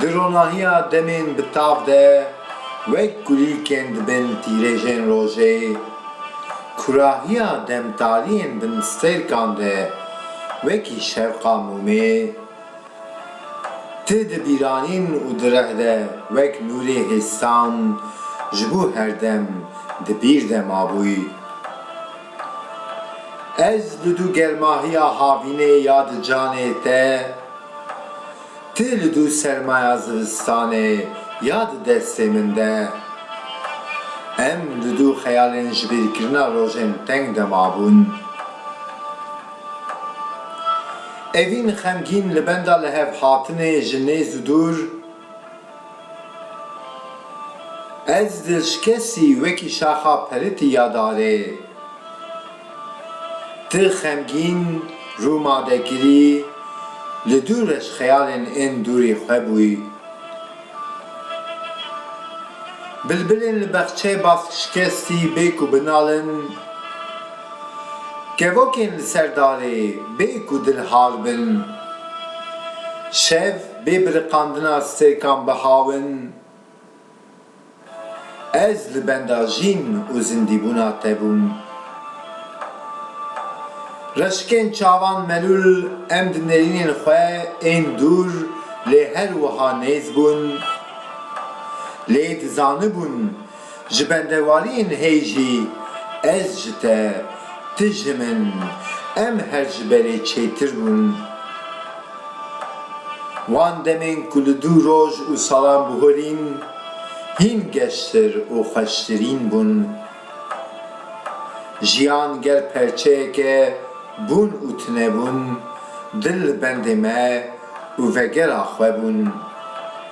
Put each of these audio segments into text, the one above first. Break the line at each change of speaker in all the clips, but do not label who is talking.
Di ronahiya demên bi tav de wek kulîlkên dibin tîrêjên rojê, kurahiya demtariyên bin stêrkan de wekî şevqa mûmê, ti di bîranîn û di reh de wek nûrê hêstan ji bo her dem di bîr de mabûy. Ez bi du germahiya havînê ya di canê te, tu li du sermaya zivistanê ya di destê min de. Em li du xeyalên jibîrkirina rojên teng de mabûn. Evîn xemgîn li benda lihevhatinê ji nêz û dûr. Ez dilşkesî wekî şaxa peritî ya darê. Ti xemgîn rû ma de girî, li dû re ji xeyalên ên dûrî xwe bûyî. Bilbilên li bexçeyê baskşikestî bê ku binalin, kevokên li ser darê bê ku dilhal bin. Şev. Bê biriqandina sekan bihawin, ez li benda jîn û zindîbûna te bûm. Reşikên çavan melûl em di nêrînên xwe ên dûr lê her wiha nêz bûn. Lê dizanibûn Ji bendewaliyên hêy jî ez ji te, tu ji min, em her ji berê çêtir bûn. Wan demên ku li dû roj û salan bihurîn, hîn geştir û xweştirîn bûn. Jiyan gel perçeyeke bûn û tunebûn, dil li bendê me û vegera xwe bûn.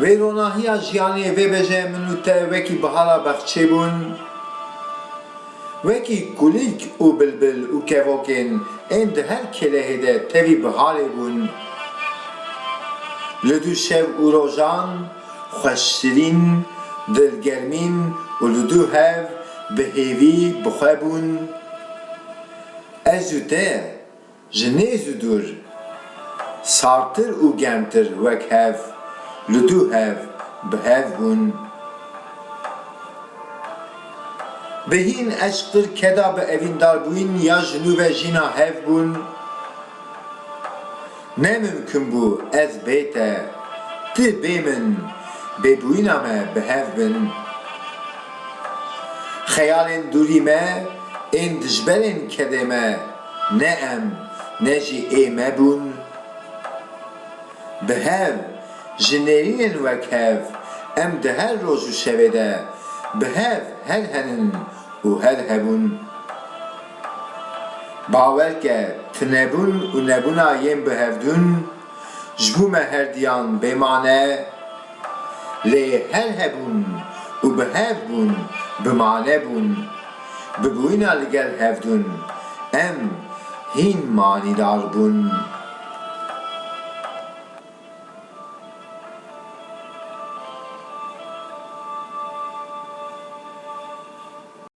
Vê ronahiya jiyanê vê bejê min û te wekî bihara bexçê bûn. Wekî kulîlk û bilbil û kevokên ên di her kêlehê de tevî biharê bûn. Li du şev û rojan xweşşirîn, dilgermîn û li du hev bi hêvî bi xwe bûn. Ez û te. Ji nê zû dûr, sartir û germtir wek hev li du hev bi hev bûn. Bi hîn eşqtir keda bi evîndarbûyîn ya ji nû ve jîna hev bûn. Ne mimkun bû ez bê te, ti bê min, bêbûyîna me bi hev bin. Xeyalên dûrî me ên dijberên kedê me. Ne em ne jî ê me bûn. Bi hev, ji nêrînên wek hev, em di her roj û şevê de bi hev her henin û her hebûn. Bawer ke tinebûn û nebûna yên bihevdûn ji bo me herdiyan bê mane lê her hebûn û bi hev bûn bi mane bûn. Bi bûyina li gel hevdûn em hîn manîdar bûn.